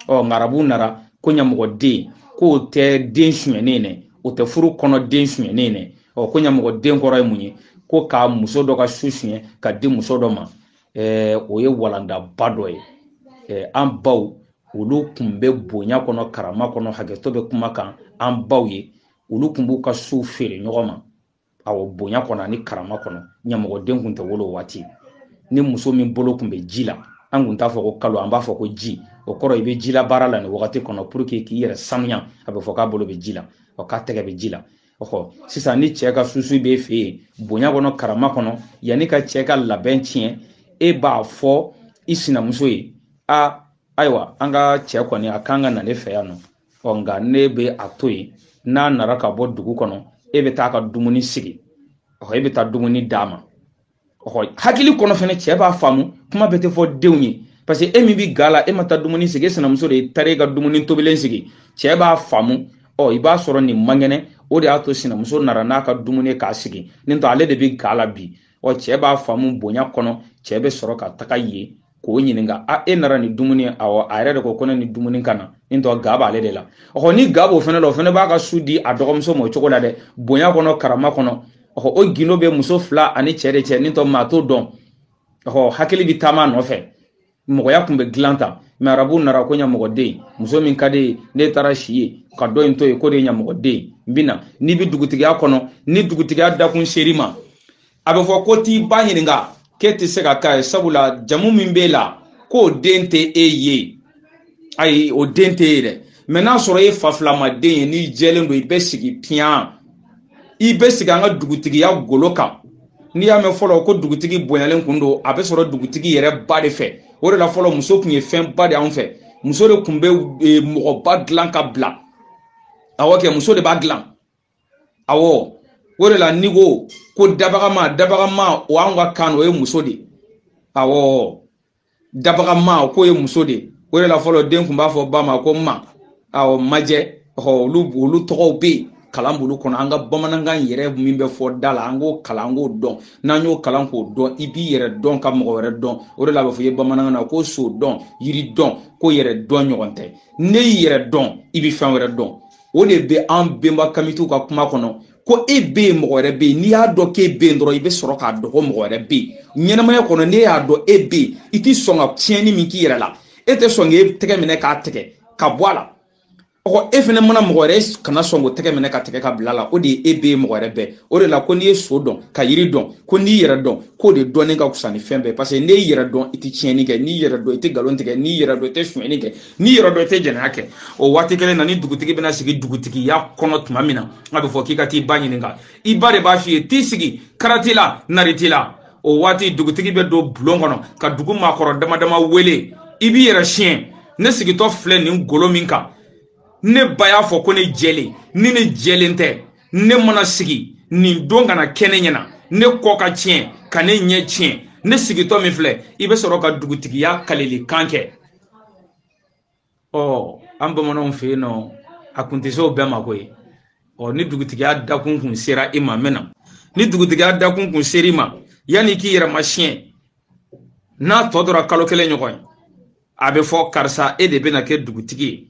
ɔ nka arabuw nara ko ɲamɔgɔden k'o tɛ den sunyɛnen dɛ o tɛ furu kɔnɔ den sunyɛnen dɛ ɔ ko ɲamɔgɔden kɔrɔ ye mun ye ko ka muso dɔ ka su sunyɛ k'a di muso dɔ ma eh, o ye walandaba dɔ ye eh, an baw olu kun bɛ bonya kɔnɔ karama kɔnɔ hakɛto bɛ kuma kan an baw ye olu kun b'u ka su feere ɲɔgɔn ma awɔ bonya kɔnɔ ani karama kɔnɔ ɲamɔgɔden kun tɛ wolo waati ni muso min bolo kun bɛ ji la an kun t'a fɔ ko kalo an b'a fɔ ko ji o kɔrɔ i bɛ ji labaara la nin wagati kɔnɔ pour que k'i yɛrɛ sanuya a bɛ fɔ k'a bolo bɛ ji la ɔ k'a tɛgɛ bɛ ji la ɔhɔ sisan ni cɛ ka susu b'e fɛ yen bonya kɔnɔ karama kɔnɔ yanni ka cɛ ka labɛn tiɲɛ e b'a fɔ i sinamuso ye a ayiwa an ka cɛ kɔni a kan ka na ne fɛ yan nɔ ɔ nka ne bɛ a to yen n'a nara ka bɔ dugu kɔnɔ e bɛ taa ka dumuni sigi ɔhɔ e bɛ taa dumuni d'a ma ɔhɔ hakili kɔnɔ fɛnɛ cɛ b'a faamu kuma bɛɛ tɛ fɔ denw ye parce que e min bɛ ga la e ma taa dumuni sigi e sinamuso de taara e ka dumuni tobilen sigi cɛ b'a faamu ɔ i b'a sɔrɔ nin man kɛnɛ o de y'a to sinamuso nara n'a ka dumuni k'a sigi ni t'o ale de bɛ ga la bi ɔ cɛ b'a faamu bonya kɔnɔ cɛ bɛ sɔrɔ ka taga yen k'o ɲininka a e nara ni dumuni awɔ a yɛrɛ de ko ko ne ni dumuni ka na ni t'o ga b'ale de la ɔhɔ ni ga b'o fɛnɛ la o fɛnɛ b'a ka su di a dɔgɔmuso ma o cogo la dɛ bonya kɔnɔ karama kɔnɔ ɔhɔ o gindo bɛ muso fila ani cɛ de cɛ ni t'o maa t'o dɔn ɔhɔ hakili bɛ taama nɔfɛ mɔgɔya kun bɛ dilan tan mɛ arabu nara ko ɲamɔgɔden muso min ka di n'e taara si yen ka dɔ in to yen k'o de ye ɲamɔgɔden n bɛ na n'i bɛ dugutigiya kɔnɔ ni dugutigiya dakun ser'i ma a bɛ fɔ ko t'i ba ɲininka k'e tɛ se ka k'a ye sabula jamu min b'e la k'o den tɛ e ye ayi o den tɛ e ye dɛ mɛ n'a sɔrɔ e fa filama den ye n'i jɛlen don i bɛ sigi piyan i bɛ sigi an ka dugutigiya golo kan n'i y'a mɛn fɔlɔ ko dugutigi bonyalen kun don a bɛ sɔrɔ dugutigi yɛrɛ ba de fɛ o de la fɔlɔ muso kun ye fɛnba de anw fɛ muso de kun bɛ mɔgɔba dilan ka bila awɔ kɛ muso de b'a dilan awɔ o de la n'i ko ko dabagama dabagama o anw ka kan o ye muso de awɔ dabagama k'o ye muso de o de la fɔlɔ den kun b'a fɔ ba ma ko ma awɔ majɛ ɔ olu olu tɔgɔw bɛ yen kalanbolo kɔnɔ an ka bamanankan yɛrɛ min bɛ fɔ da la an k'o kalan an k'o dɔn n'an y'o kalan k'o dɔn i b'i yɛrɛ dɔn ka mɔgɔ wɛrɛ dɔn o de la a bɛ fɔ i ye bamanankan na ko so dɔn yiri dɔn ko yɛrɛ dɔn ɲɔgɔn tɛ n'e y'i yɛrɛ dɔn i bɛ fɛn wɛrɛ dɔn o de bɛ an benba kamitiw ka kuma kɔnɔ ko e bɛ yen mɔgɔ wɛrɛ bɛ yen n'i y'a dɔn k'e bɛ yen dɔrɔn i bɛ sɔrɔ k'a dɔn ko mɔgɔ wɛrɛ bɛ yen ɲɛnamaya kɔnɔ n'e y'a dɔn e bɛ yen i tɛ sɔn ka tiɲɛni min k'i yɛrɛ la e tɛ sɔn k'e tɛgɛ minɛ k'a tigɛ ka bɔ a la ɔhɔ e fɛnɛ mana mɔgɔ wɛrɛ kana sɔn k'o tɛgɛ minɛ k'a tigɛ ka bila la o de ye e bɛ yen mɔgɔ wɛrɛ bɛ yen o de la ko n'i ye so dɔn ka yiri dɔn ko n'i yɛrɛ dɔn k'o de dɔnnen ka fisa ni fɛn bɛɛ paseke n'i yɛrɛ dɔn i tɛ tiɲɛni kɛ n'i yɛrɛ dɔn i tɛ nkalon tigɛ n'i yɛrɛ dɔn i tɛ sonyɛni kɛ n'i yɛrɛ dɔn i tɛ jɛnɛya kɛ o waati kelen na ni dugutigi bɛna sigi dugutigiya kɔnɔ tuma min na a bɛ fɔ k'i ka t'i ba ɲininka i ba de b'a f'i ye t'i sigi kara t'i la nari t'i la o waati dugutigi bɛ don bulon kɔnɔ ka dugu maakɔrɔ dama dama wele i b'i yɛrɛ siɲɛ ne sigitɔ filɛ nin golo min kan ne ba y'a fɔ ko ne jɛlen ni ne jɛlen tɛ ne mana sigi nin don kana kɛ ne ɲɛna ne kɔ ka tiɲɛ ka ne ɲɛ tiɲɛ ne sigitɔ min filɛ i bɛ sɔrɔ ka dugutigiya kalilikan kɛ ɔ an bamananw fɛ yen nɔ a kun tɛ se o bɛɛ ma koyi ɔ ni dugutigiya dakun kun sera i ma min na ni dugutigiya dakun kun sera i ma yanni k'i yɛrɛ ma siɲɛ n'a tɔ tora kalo kelen ɲɔgɔn ye a bɛ fɔ karisa e de bɛna kɛ dugutigi ye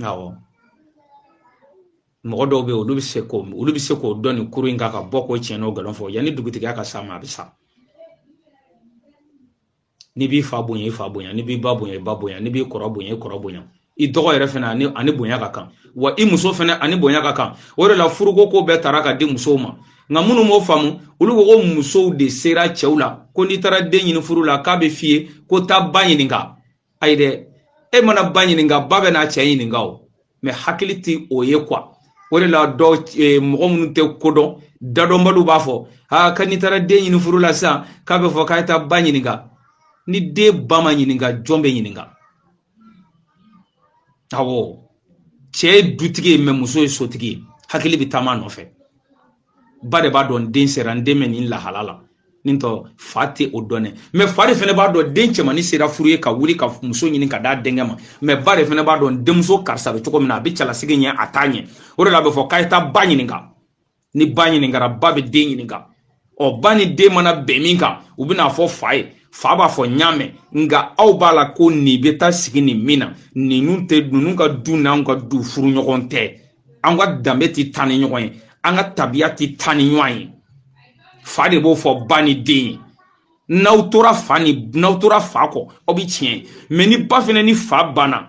awɔ mɔgɔ dɔw bɛ yen olu bɛ se k'o olu bɛ se k'o dɔn nin kuru in kan ka bɔ k'o tiɲɛ n'o nkalon fɔ yanni dugutigiya ka s'a ma a bɛ sa n'i b'i fa bonya i fa bonya n'i b'i ba bonya i ba bonya n'i b'i kɔrɔ bonya i kɔrɔ bonya i dɔgɔ yɛrɛ fana a ni a ni bonya ka kan wa i muso fana a ni bonya ka kan o de la furuko ko bɛɛ tara ka di musow ma nka minnu m'o faamu olu ko ko musow de sera cɛw la ko n'i taara den ɲini furu la k'a bɛ f'i ye ko taa ba ɲininka ayi dɛ e mana ba ɲininka ba bɛ n'a cɛ ɲininka o mɛ hakili tɛ o ye kuwa o de la dɔw eh, mɔgɔ minnu tɛ ko dɔn dadɔnbaliw b'a fɔ ha ka n'i taara den ɲini furu la sisan k'a bɛ fɔ k'a ye taa ba ɲininka ni den ba ma ɲininka jɔn bɛ ɲininka awɔ cɛ ye dutigi ye mɛ muso ye sotigi ye hakili bɛ taama nɔfɛ ba de b'a dɔn n den sera n den bɛ nin lahala la nin tɔ fa tɛ o dɔn dɛ mɛ fa de fana b'a dɔn den cɛmannin sera furu ye ka wuli ka muso ɲini ka d'a denkɛ ma mɛ ba de fana b'a dɔn denmuso karisa bɛ cogo min na a bɛ cɛlasigi ɲɛ a t'a ɲɛ o de la a bɛ fɔ k'a ye taa ba ɲininka ni ba ɲininkara ba bɛ den ɲininka ɔ ba ni den mana bɛn min kan u bɛ n'a fɔ fa ye fa b'a fɔ n y'a mɛn nka aw b'a la ko nin bɛ taa sigi nin min na ninnu tɛ ninnu ka du n'anw ka du furu ɲɔgɔn tɛ an ka danbe tɛ taa ni ɲɔgɔn ye an ka tabiya tɛ taa ni ɲɔgɔn ye fa de b'o fɔ ba ni den ye n'aw tora fa kɔ aw bɛ tiɲɛ mɛ ni ba fana ni fa banna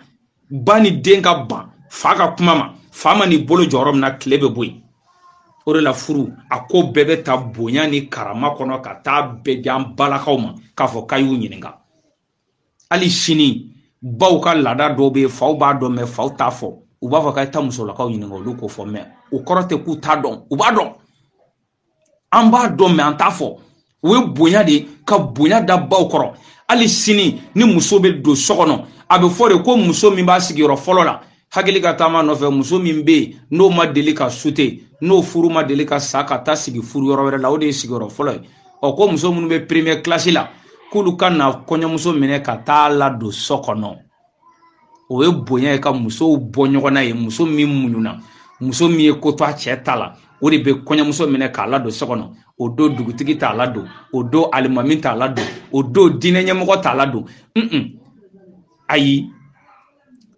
ba ni den ka ban fa ka kuma ma fa man'i bolo jɔ yɔrɔ min na tile bɛ bɔ yen o de la furu a ko bɛɛ bɛ ta bonya ni karama kɔnɔ ka taa bɛɛ di an balakaw ma k'a fɔ k'a y'u ɲininka hali sini baw ka laada dɔw bɛ yen faw b'a dɔn mɛ faw t'a fɔ u b'a fɔ k'a ye taa musolakaw ɲininka olu k'o fɔ mɛ o kɔrɔ tɛ k'u t'a dɔn u b'a dɔn an b'a dɔn mɛ an t'a fɔ o ye bonya de ye ka bonya da baw kɔrɔ hali sini ni muso bɛ don so kɔnɔ a bɛ fɔ de ko muso min b'a sigiyɔrɔ fɔlɔ la hakili ka taama nɔfɛ muso min bɛ yen n'o ma deli ka sute n'o furu ma deli ka sa ka taa sigi furu yɔrɔ wɛrɛ la o de ye sigiyɔrɔ fɔlɔ ye ɔ ko muso minnu bɛ premier kilasi la k'olu ka na kɔɲɔmuso minɛ ka taa ladon so kɔnɔ o ye bonya ye ka musow bɔ ɲɔgɔn na ye muso min muɲuna muso min ye ko to a cɛ ta la o de bɛ kɔɲɔmuso minɛ k'a ladon so kɔnɔ o don dugutigi t'a ladon o don alimami t'a ladon o don diinɛ ɲɛmɔgɔ t'a ladon un un ayi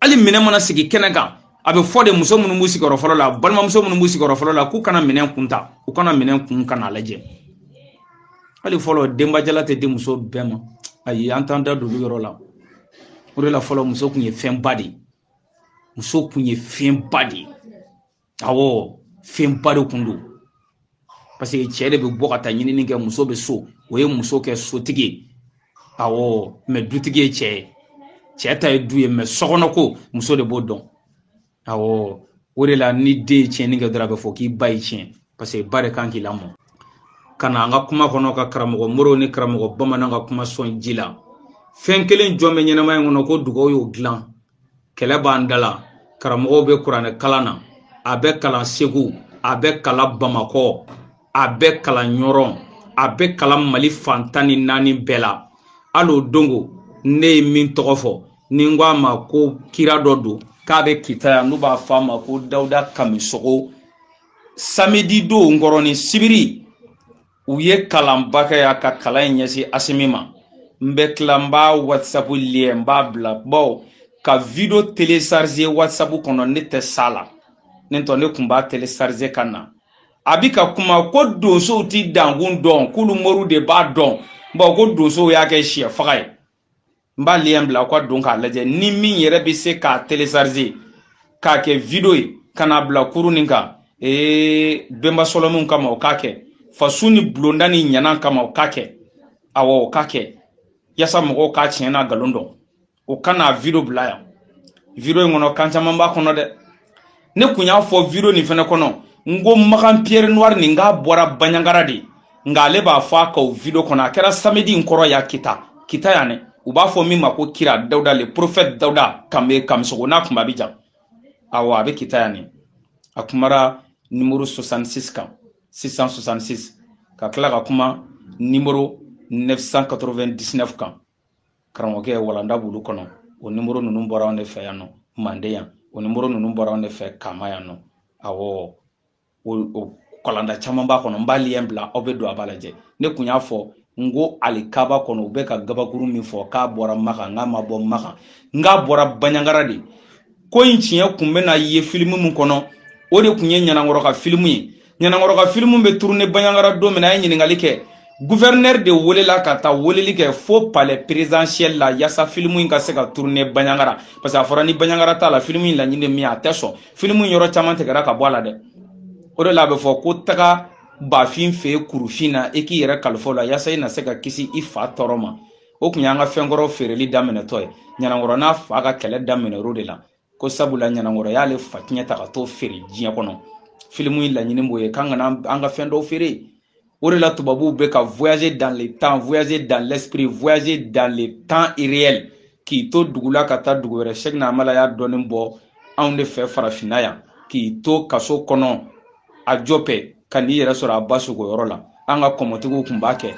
hali minɛn mana sigi kɛnɛ kan a bɛ fɔ de muso minnu b'u sigiyɔrɔ fɔlɔ la balimamuso minnu b'u sigiyɔrɔ fɔlɔ la k'u ka na minɛn kun ta u ka na minɛn kun ka n'a lajɛ hali fɔlɔ denbajala tɛ di muso bɛɛ ma ayi an t'an da don olu yɔrɔ la o de la fɔlɔ muso kun ye fɛnba de ye muso kun ye fɛnba de ye awɔ fɛnba de kun don parce que cɛ de bɛ bɔ ka taa ɲinini kɛ muso bɛ so o ye muso kɛ sotigi ye awɔ mɛ dutigi ye cɛ ye cɛ ta ye du ye mɛ sokɔnɔ ko muso de b'o dɔn awɔ o de la ni den ye tiɲɛni kɛ dɔrɔn a bɛ fɔ k'i ba y'i tiɲɛ parce que ba de kan k'i lamɔ ka na an ka kuma kɔnɔ ka karamɔgɔ moro ni karamɔgɔ bamanan ka kuma sɔn ji la fɛn kelen jɔn bɛ ɲɛnamaya in kɔnɔ ko dugawu y'o dilan kɛlɛ b'an da la karamɔgɔw bɛ kuranɛ kalan na a bɛ kalan segu a bɛ kalan bamakɔ a bɛ kalan ɲɔrɔn a bɛ kalan mali fan tan ni naani bɛɛ la hali o dongo ne ye min tɔgɔ fɔ ni n ko a ma ko kira dɔ don k'a bɛ kita yan n'u b'a fɔ a ma ko dawuda kamisogo samedi don kɔrɔnin sibiri u ye kalanba kɛ yan ka kalan in ɲɛsin asimi ma n bɛ tila n b'a whatsapp lien n b'a bila bawo ka video télécharger whatsapp kɔnɔ ne tɛ s'a la n'o tɛ ne kun b'a télécharger ka na a bi ka kuma ko donsow ti dankun dɔn k'olu moriw de b'a dɔn bawo ko donsow y'a kɛ syɛ faga ye n b'a lien bila aw ka don k'a lajɛ ni min yɛrɛ bɛ se k'a télécharger k'a kɛ video ye ka n'a bila kuru nin kan ee bɛnba sɔlɔminw kama o k'a kɛ faso ni bulonda ni ɲanan kama o k'a kɛ awɔ o k'a kɛ yasa mɔgɔw k'a tiɲɛ n'a nkalon dɔn o ka n'a video bila yan video in kɔnɔ kan caman b'a kɔnɔ dɛ ne kun y'a fɔ video nin fɛnɛ kɔnɔ n ko makan pierre noire nin k'a bɔra baɲangara de nka ale b'a fɔ a ka o video kɔnɔ a kɛra samedi n kɔrɔ yan kita kita yan dɛ u b'a fɔ min ma ko kira dawuda le prophète dawuda kambe kamisogo n'a kunba bi jan awa a bɛ kita yan nin a kumara nimoro 66 kan 666 ka tila ka kuma nimoro 999 kan karamɔgɔkɛ walanda b'olu kɔnɔ o nimoro ninnu bɔra anw de fɛ yan nɔ manden yan o nimoro ninnu bɔra anw de fɛ kama yan nɔ awɔ o kalanda caman b'a kɔnɔ n b'a lien bila aw bɛ don aw b'a lajɛ ne kun y'a fɔ n ko alikaba kɔnɔ u bɛ ka gabakuru min fɔ k'a bɔra makan n k'a ma bɔ makan n k'a bɔra baɲangara de ko in tiɲɛ kun bɛna ye filimu min kɔnɔ o de kun ye ɲanankɔrɔ ka filimu ye ɲanankɔrɔ ka filimu bɛ turune baɲangara don min na a ye ɲininkali kɛ guvɛrinɛri de welela ka taa weleli kɛ fo palais présidentiel la yasa filimu in ka se ka turune baɲangara parce que a fɔra ni baɲangara t'a la filimu in laɲini min a tɛ sɔn filimu in yɔrɔ caman tigɛra ka bɔ a la dɛ o de la a bɛ fɔ ko taga bafin fɛ kurufin na i k'i yɛrɛ kalifa o la yasa i na se ka kisi i fa tɔɔrɔ ma o kun y'an ka fɛnkɔrɔ feereli daminɛtɔ ye ɲanankɔrɔ n'a fa ka kɛlɛ daminɛr'o de la ko sabula ɲanankɔrɔ y'ale fa tiɲɛ ta ka t'o feere diɲɛ kɔnɔ filimu in laɲini b'o ye k'an kana an ka fɛn dɔw feere o de la tubabuw bɛ ka voyager dans le temps voyager dans l'esprit voyager dans le temps irréel k'i to dugu la ka taa dugu wɛrɛ sheikh amala y'a dɔɔnin bɔ anw de fɛ farafinna yan k'i to kaso kɔnɔ ajɔpɛ ka n'i yɛrɛ sɔrɔ a ba su ko yɔrɔ la an ka kɔmɔtigiw kun b'a kɛ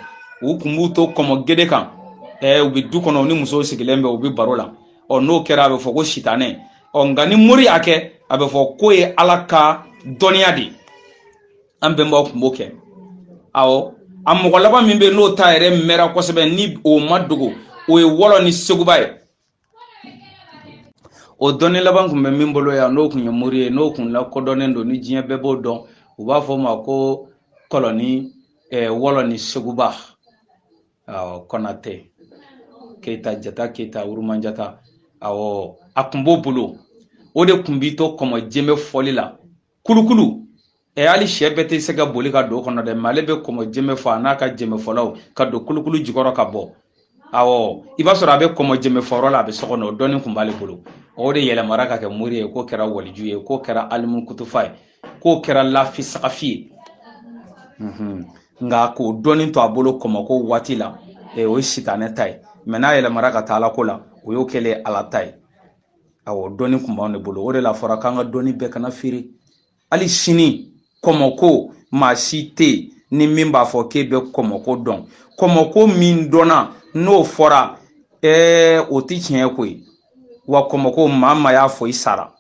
u kun b'u to kɔmɔ gede kan ɛɛ u bɛ du kɔnɔ u ni musow sigilen bɛ u bɛ baro la ɔ n'o kɛra a bɛ fɔ ko sitanɛ ɔ nka ni mori y'a kɛ a bɛ fɔ k'o ye ala ka dɔnniya de ye an bɛnbaw kun b'o kɛ awɔ a mɔgɔ laban min bɛ yen n'o ta yɛrɛ mɛnra kosɛbɛ ni o ma dogo o ye wɔlɔni seguba ye o dɔnni laban kun bɛ min bolo yan n'o kun ye mori ye n'o kun lakodɔnnen don ni diɲɛ bɛɛ b'o dɔn u b'a fɔ o ma ko kɔlɔni eh, wɔlɔni seguba awɔ kɔnatɛ keyita jata keyita wurumanjata awɔ a kun b'o bolo o de kun b'i to kɔmɔ jembe fɔli la kulukulu ɛ e, hali sɛ bɛɛ tɛ se ka boli ka don o kɔnɔ dɛ mais ale bɛ kɔmɔ jɛmɛ fɔ a n'a ka jɛmɛ fɔlaw ka don kulukulu jukɔrɔ ka bɔ awɔ i b'a sɔrɔ a bɛ kɔmɔ jɛmɛ fɔyɔrɔ la a bɛ so kɔnɔ o dɔnni kun b'ale bolo o de yɛlɛmara ka kɛ mori ye k'o kɛra waliju ye k'o kɛra alimu kutufa ye k'o kɛra lafi sagafi ye mhm. nka k'o dɔnni to a bolo kɔmɔko waati la e, o ye sitanɛ ta ye mais n'a yɛlɛmara ka taa alako la o y'o kɛlen ala ta ye awɔ dɔnni kun b'anw de bolo o de l'a fɔra k'an ka dɔnni bɛɛ kana feere hali sini kɔmɔko maa si tɛ yen ni min b'a fɔ k'e bɛ kɔmɔko dɔn kɔmɔko min dɔnna n'o fɔra ɛɛ o tɛ tiɲɛ ko ye wa kɔmɔko maa maa y'a fɔ i sara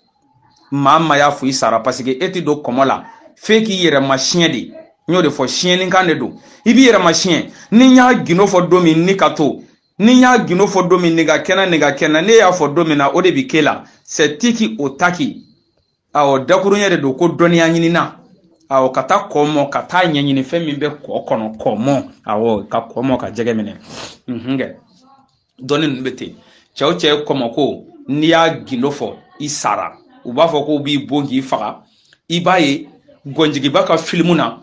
maa maa y'a fɔ i sara parce que e tɛ don kɔmɔ la f'e k'i yɛrɛ masiyɛn de n y'o de fɔ siyɛnnikan de don i b'i yɛrɛ masiyɛn ni n y'a gindo fɔ don min ni ka to ni n y'a gindo fɔ don min nin ka kɛnɛ ne y'a fɔ don min na o de bi ke la sɛ tiki o taki awɔ dakuruɲɛ de don ko dɔnniya ɲinina awɔ ka taa kɔ mɔ ka taa ɲɛɲini fɛn min bɛ kɔ kɔnɔ kɔ mɔ awɔ ka kɔ mɔ ka jɛgɛ minɛ mhm kɛ dɔnni ninnu bɛ ten cɛ o cɛ kɔmɔko n'i y'a gindo fɔ i sara u b'a fɔ k'u b'i bon k'i faga i b'a ye gɔnjigiba ka filimu na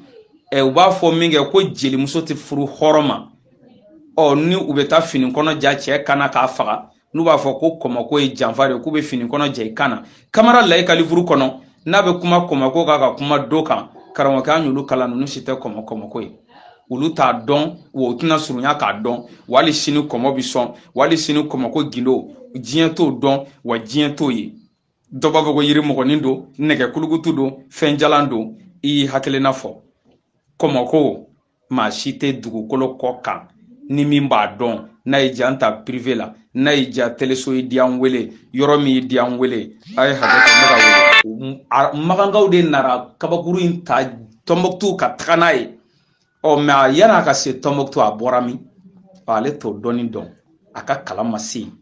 u b'a fɔ min kɛ ko jelimuso tɛ furu hɔrɔn ma ɔ ni u bɛ taa fini kɔnɔ ja cɛ kana k'a faga n'u b'a fɔ ko kɔmɔko ye janfa de k'u bɛ fini kɔnɔ ja i kan na kamara layi ka livuru kɔnɔ n'a bɛ kuma kɔmɔko kan ka kuma do kan karamɔgɔkɛ an y'olu kalan ninnu si tɛ kɔmɔ kɔmɔko ye olu t'a dɔn wa u tɛna surunya k'a dɔn wali sini kɔmɔ bi sɔn wali sini kɔmɔko gindo diɲɛ t'o dɔn wa diɲɛ t'o ye dɔ b'a fɔ ko yirimɔgɔnin don nɛgɛ kulukutu don fɛn jalan don i y'i hakilina fɔ kɔmɔko maa si tɛ dugukolo kɔ kan ni min b'a dɔn n'a ye ja ta pirive la n'a ye ja teleso ye di an wele yɔrɔ min ye di an wele a ye hakɛ to ne ka wele magankaw de nara kabakuru in ta tɔnbɔkutu ka taga n'a ye ɔ mɛ a yan'a ka se tɔnbɔkutu a bɔra min ale t'o dɔnni dɔn a ka kalan ma se yen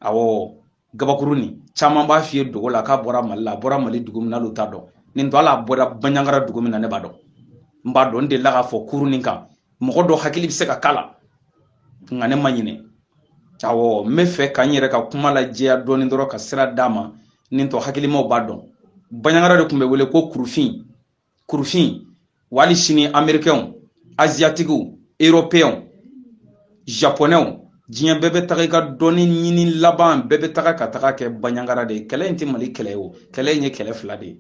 awɔ gabakuru nin caman b'a f'i ye dogo la k'a bɔra mali la a bɔra mali dugu min na n'olu t'a dɔn nin tɔ ala bɔra banyangara dugu min na ne b'a dɔn n b'a dɔn n delila k'a fɔ kuru nin kan mɔgɔ dɔ hakili bɛ se ka k'a la nka ne ma ɲinɛ awɔ n b'a fɛ ka n yɛrɛ ka kuma lajɛya dɔɔni dɔrɔn ka sira d'a ma nin tɔ hakilimaw b'a dɔn banyangara de tun bɛ wele ko kurufin kurufin wali sini amerikɛnw aziyatikiw eropeyɛnw japonɛw diɲɛ bɛɛ bɛ taga i ka dɔnni ɲini laban bɛɛ bɛ taga ka taga kɛ baɲangara de ye kɛlɛ in tɛ mali kɛlɛ ye o kɛlɛ in ye kɛlɛ fila de ye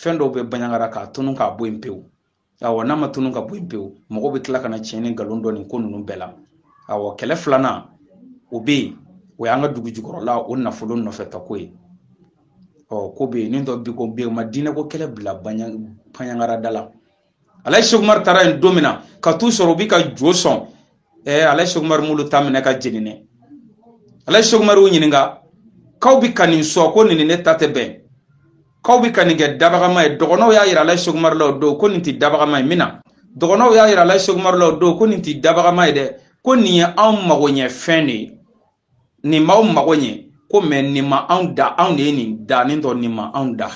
fɛn dɔw bɛ baɲangara k'a tunu k'a bɔ yen pewu awɔ n'a ma tunu ka bɔ yen pewu mɔgɔ bɛ tila ka na tiɲɛ ni nkalon dɔn nin ko ninnu bɛɛ la awɔ kɛlɛ filanan o bɛ yen o y'an ka dugu jukɔrɔla o nafolo nɔfɛtako ye ɔ ko bɛ yen nin dɔ bi ko bɛ yen ma diinɛ ko kɛlɛ bila banyangara da la alaji seku umaru taara yen don min na ka t'u sɔrɔ u bi ka jo sɔn ɛɛ alaji seku umaru m'olu ta minɛ ka jeni dɛ alaji seku umaru y'u ɲininka k'aw bi ka nin sɔn ko nin ni ne ta tɛ bɛn k'aw bi ka nin kɛ dabagama ye dɔgɔnɔw y'a yira alaji seku umaru la o don ko nin tɛ dabagama ye min na dɔgɔnɔw y'a yira alaji seku umaru la o don ko nin tɛ dabagama ye dɛ ko nin ye anw magoɲɛfɛn de ye nin b'aw mago ɲɛ ko mɛ nin ma anw da anw de ye nin da nin tɔ nin ma anw da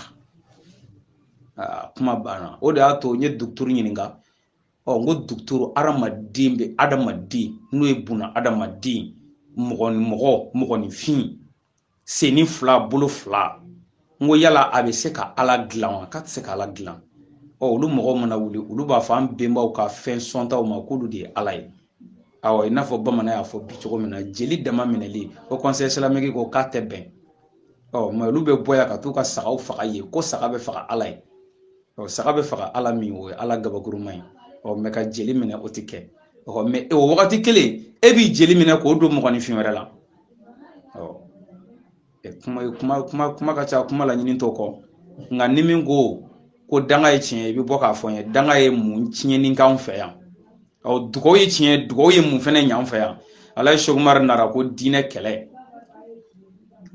kuma banna o de y'a to n ye dɔkɔtɔrɔ ɲininka ɔ n ko dɔkɔtɔrɔ adamaden bɛ adamaden n'o ye buna adamaden mɔgɔ ni mɔgɔ mɔgɔninfin sennin fila bolo fila n ko yala a bɛ se ka ala dilan wa k'a tɛ se ka ala dilan ɔ olu mɔgɔw mana wuli olu b'a fɔ an bɛnbaw ka fɛn sɔntaw ma k'olu de ye ala ye awɔ i n'a fɔ bamanan y'a fɔ bi cogo min na jeli dama minɛli o kɔnsɛyi isilamiki ko k'a tɛ bɛn ɔ mɛ olu bɛ bɔ yan ka t'u ka sagaw faga yen ko saga bɛ faga ala ye ɔ saga bɛ faga ala min o ye ala gabakuruma ye ɔ mɛ ka jeli minɛ o tɛ kɛ ɔ mɛ e, o wagati kelen e b'i jeli minɛ k'o don mɔgɔninfin wɛrɛ la kuma kuma kuma kuma ka ca kuma laɲini t'o kɔ nka ni min ko ko danga ye tiɲɛ i bɛ bɔ k'a fɔ n ye danga ye mun tiɲɛni k'an fɛ yan ɔ dugawu ye tiɲɛ dugawu ye mun fɛnɛ ɲ'an fɛ yan alaji seku umaru nara ko diinɛ kɛlɛ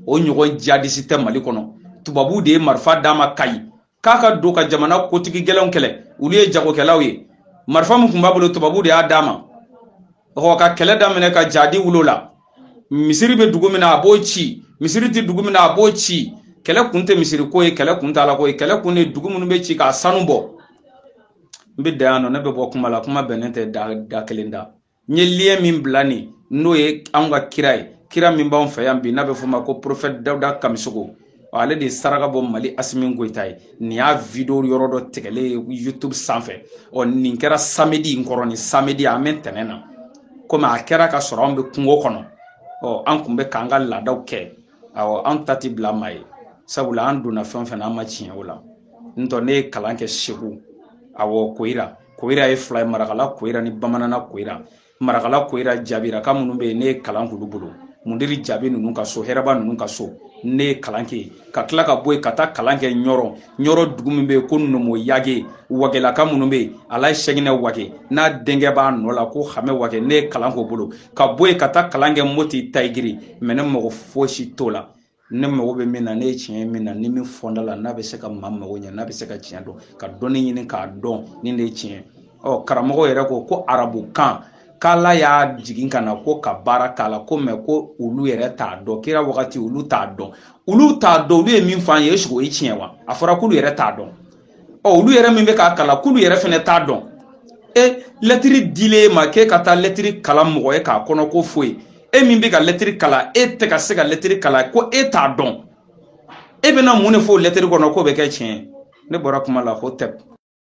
o ɲɔgɔn jadisi tɛ mali kɔnɔ tubabu de ye marifa d'a ma kayi k'a ka don ka jamana kotigi gɛlɛnw kɛlɛ olu ye jagokɛlaw ye marifa min tun b'a bolo tubabu de y'a d'a ma ka kɛlɛ daminɛ ka jadi wolo la misiri bɛ dugu min na a b'o ci misiri tɛ dugu min na a b'o ci kɛlɛ kun tɛ misiri ko ye kɛlɛ kun tɛ ala ko ye kɛlɛ kun de dugu minnu bɛ ci k'a sanu bɔ n bɛ dan yan nɔ ne bɛ bɔ kuma la kuma bɛnnen tɛ da da kelen da n ye lien min bila nin n'o ye anw ka kira ye kira min b'anw fɛ yan bi n'a bɛ f'o ma ko porofɛti dawuda kamisogo ale de ye saraka bɔ mali asimi goyita ye nin y'a video yɔrɔ dɔ tigɛlen ye youtube sanfɛ ɔ nin kɛra samedi in kɔrɔ nin samedi an bɛ tɛnɛn na komi a kɛra ka sɔrɔ an bɛ kungo kɔnɔ ɔ an tun bɛ k'an ka laadaw kɛ awɔ an ta ti bila maa ye sabula an donna fɛn o fɛn na an ma tiɲɛ o la n tɔ ne ye kalan kɛ segu awɔ koyira koyira ye fila ye marakala koyira ni bamanana koyira marakala koyira jabiraka minnu bɛ yen ne ye kalan k'olu bolo mundiri jabi ninnu ka so hɛrɛba ninnu ka so ne ye kalan kɛ ka tila ka bɔ yen ka taa kalan kɛ ɲɔrɔ ɲɔrɔ dugu min bɛ yen ko nomo yage wagelaka minnu bɛ yen alaji sɛginɛ wage n'a denkɛ b'a nɔ la ko hamɛ wage ne ye kalan k'o bolo ka bɔ yen ka taa kalan kɛ moti tayigiri mɛ ne mago fosi t'o la ne mago bɛ min na ne ye tiɲɛ min na ni min fɔnda la n'a bɛ se ka maa mago ɲɛ n'a bɛ se ka tiɲɛ dɔn ka dɔnni ɲini k'a dɔn nin de ye tiɲɛ ɔ karamɔgɔ yɛrɛ ko ko arabu kan k'ala y'a jigin ka na ko ka baara k'a la ko mɛ ko olu yɛrɛ t'a dɔn kira wagati olu t'a dɔn olu t'a dɔn olu ye min fɔ an ye eseke o ye tiɲɛ wa a fɔra k'olu yɛrɛ t'a dɔn ɔ olu yɛrɛ min bɛ k'a kalan k'olu yɛrɛ fɛnɛ t'a dɔn e lɛtiri dilen e ma k'e ka taa lɛtiri kalan mɔgɔ ye k'a kɔnɔko f'o ye e min bɛ ka lɛtiri kalan e tɛ ka se ka lɛtiri kalan ko e t'a dɔn e bɛna mun de fɔ o lɛtiri kɔnɔ k'o bɛ kɛ tiɲɛ ye ne bɔra kuma la ko tɛ